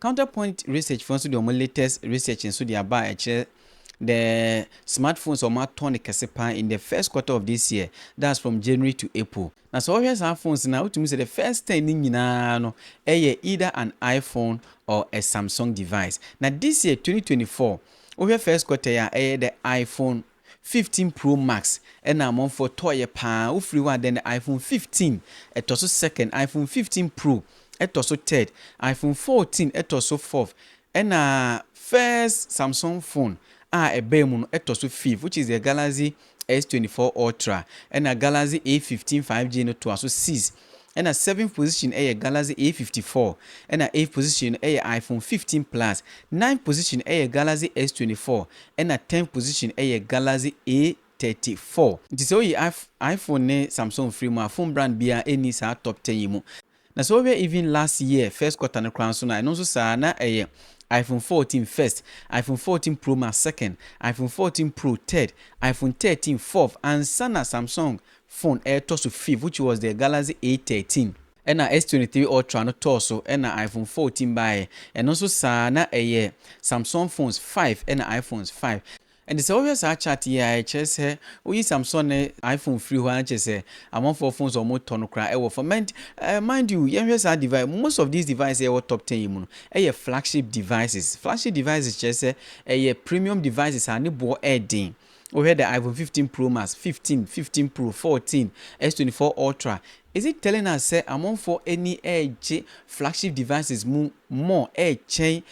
Counterpoint Research foɔ nso de wɔn latest research nso de aba a ɛkyerɛ the smart phones a wɔatɔ no kɛse pa ara in the first quarter of this year, that's from January to April. Na sɛ wohwɛ saa phones no a, wotumi hu sɛ the first ten no nyina ara no yɛ either an iPhone or a Samsung device. Na this year, twenty twenty four, wohwɛ first quarter yi a, ɛyɛ the iPhone 15 pro max na amanfoɔ tɔɔyɛ paa wofiri hɔ a then iphone 15 ɛtɔ so second iphone 15 pro ɛtɔ so third iphone 14 ɛtɔ so fourth ɛna first samsung phone a ɛbaa mu no ɛtɔ so fifth which is the galaxy S24 ultra ɛna galaxy A15 5G no toa so sixth ɛna seventh position yɛ Galaxy A fifty four, ɛna eighth position no yɛ iPhone fifteen plus, ninth position yɛ Galaxy S twenty four, ɛna tenth position yɛ Galaxy A thirty four. Nti sɛ woyi I iPhone ne Samsung firi mu a, phone brand biara nni saa top ten yi mu. Na sɛ wohwɛ even last year first quarter no koraa nso no a, ɛno nso saa ara, na ɛyɛ iPhone fourteen first, iPhone fourteen Pro Max second, iPhone fourteen Pro third, iPhone thirteen fourth, ansa na Samsung phone ɛretɔ so fifth which was the Galaxy A thirteen ɛna S twenty three Ultra no tɔɔ so ɛna iPhone fourteen baeɛ ɛno nso saa na ɛyɛ Samsung phones five ɛna iPhones five ɛnti sɛ wohwɛ saa chart yi a ɛkyerɛ sɛ woyi Samsung ne iPhone firi hɔ a na kyerɛ sɛ amanfoɔ phones a wɔretɔ no koraa ɛwɔ fam and uh, mind you yɛnhwɛ saa device most of these devices ɛwɔ top ten yi mu no ɛyɛ flagship devices flagship devices kyerɛ sɛ ɛyɛ premium devices a ne boɔ ɛɛden Wohwɛ the iPhone 15 Pro Max, 15, 15 Pro, 14, S24 Ultra, is it telling us sɛ amonfoɔ ani regye flagship devices mu more ɛkyɛn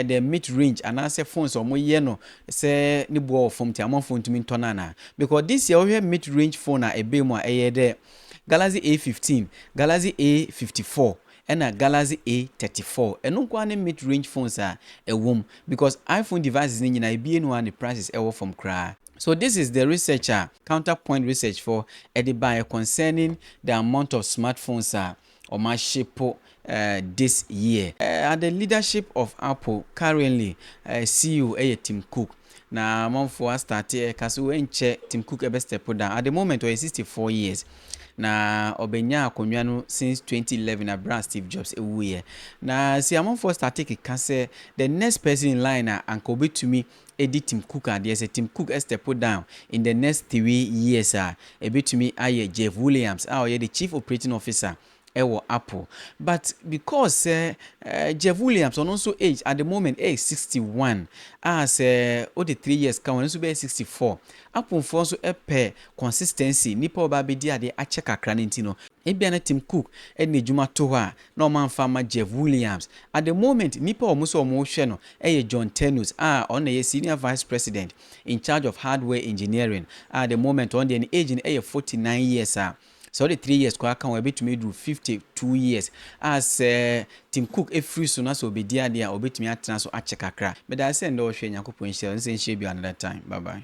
the mid range anaasɛ phones a wɔyɛ no sɛ ne boɔ wɔ fam nti amonfoɔ ntumi ntɔ no anaa? Because this year wohwɛ mid range phone a ɛbaa mu a ɛyɛ the Galaxy A15, Galaxy A54, ɛna Galaxy A thirty four ɛno nkoaa ne mid range phones a ɛwom because iPhone devices no nyinaa ebi eni hɔ a ne prices ɛwɔ fam koraa. So this is the research a Counter Point Research foɔ ɛde baeɛ concerning the amount of smart phones a wɔn ahyepo this year. At the leadership of Apple currently, CEO ɛyɛ Tim Cook. Na amanfoɔ a starte ɛka so ɛnkyɛ Tim Cook ɛbɛ step down at the moment ɔyɛ 64 years na ɔbɛnya akonnwa no since 2011 abere a Steve Jobs ɛwuiɛ na si amanfoɔ starte keka sɛ the next person in line a anka ɔbɛtumi ɛdi Tim Cook adeɛ sɛ Tim Cook ɛstep down in the next three years a ɛbɛtumi ayɛ Jeff Williams a ɔyɛ the chief operating officer wɔ apple but because sɛ Jeff Williams ɔno nso age at the moment ɛyɛ sixty one a sɛ wode three years ka ho no nso bɛyɛ sixty four apple foɔ nso pɛ consistency nnipa ɔba abɛdi adeɛ akyɛ kakra no nti no ebia na Tim Cook de n'adwuma to hɔ a na wɔn amfa ama Jeff Williams at the moment nnipa a wɔn sɛ wɔn rehwɛ no ɛyɛ John Ternus a ɔno na ɛyɛ senior vice president in charge of hardware engineering a at the moment ɔno deɛ ne age no ɛyɛ forty nine years a Sɛ wode three years koraa ka ho a, ɛbɛtumi aduru fifty two years a sɛ Tim Cook firi so na sɛ ɔbɛdi adeɛ a, ɔbɛtumi atena so akyɛ kakra. Meda wo sɛ nnɛ wohwɛɛ. Nyankopɔn nhyira wo. Nse nhyɛ bio another time. Bye bye.